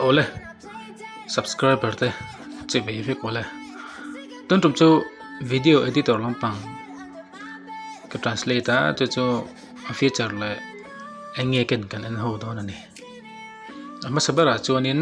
ole subscriber te che ve vek ole ton tum chu video editor lampang ka translate a chu chu a feature le enge ken kan en ho don ani ama sabara chuanin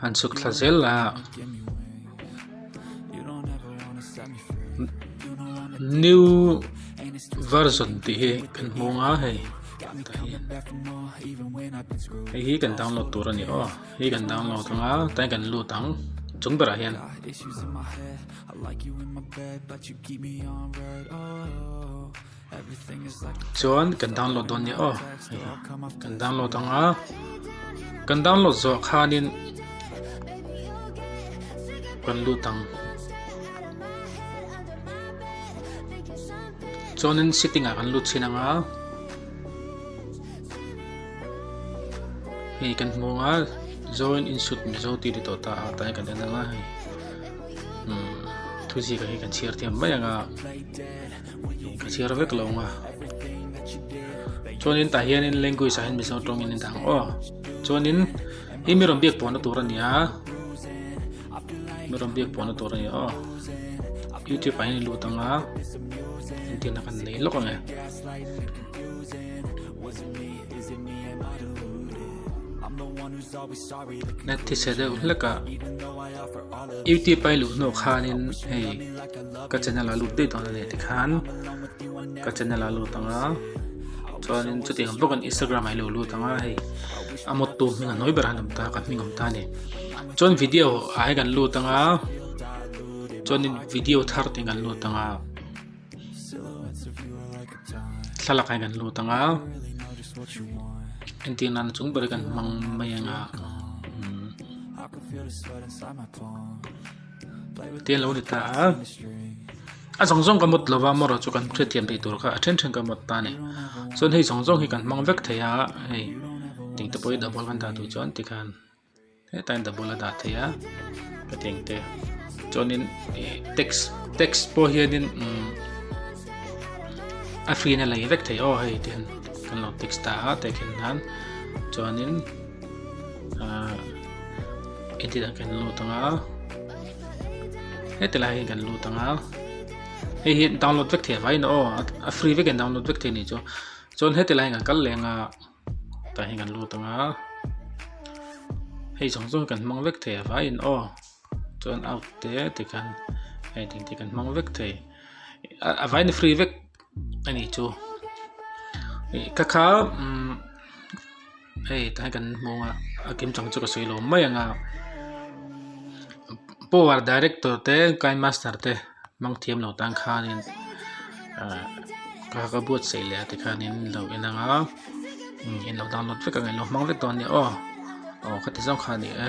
han chhuk thla zel a new version tih hi kan hmu ang a hei hei hi kan download tur a ni aw hei kan download ang a tlai kan lut ang chung berah hian chuan kan download dawn nia aw kan download ang a kan download zawh khanin kan lut ang chuanin setting ah kan lut chhin ang a hei kan hmu a join in shoot mizo ti ti tawh ta tai kan en ang a hei thuziah hi kan chhiar thiam mai ang a ka chhiar vek lo nga chuanin tah hian in language ah hian mizo tawngin in dang aw chuanin hi mi rawn biak puahna tur a nia mi rawn biak puahna tur a nia aw youtube ah hian in lut anga intina kan nei lawk ang e na thise deuh hlek a youtube a i luh hnawk khanin hei ka channel a lut daih dawn anih tikhan ka channel a lut anga chuanin chutiang zawk in Instagram ah hi a lo lut anga hei a mawt tu hming a hnuai ber han awm ta ka hming awm ta ani chuan video ah hi kan lut anga chuanin video thar te kan lut anga thlalak hi kan lut anga engtin nan chung ber kan hmang mai anga hmm. Tia lo ni ta a. A zawng zawng ka mut lova mawrh chu kan hre thiam thei tur kha a then then ka mawt ta a ni. Chuan hei zawng zawng hi kan hmang vek thei a hei tih te pawh hi double kan dah duh chuan tikhan hetlai in double a dah thei a ka tiang te. Chuanin text text pawh hianin umm a free na lei vek thei aw hei tihin kan lo text ta a tekhinnan chuanin ah edit ah kan lut anga heti lai kan lut anga hei hi download vek thei vai na aw a free vek in download vek thei ni chu chuan heti lai kan kal leh anga tah hian kan lut anga hei zawng zawng kan hmang vek thei a vai in aw Chuan out te ti khan hei tih te kan hmang vek thei a vai na free vek a nih chu ka kha hei ta hian kan hmu a a kim chang chu ka sawi lawm mai ang a power director te kind master te hmang thiam lo tan khanin ka ka buatsaih leh a ti khanin lo en ang a in lo download vek ang in lo hmang vek dawn nia aw aw khati zawk kha a ni e.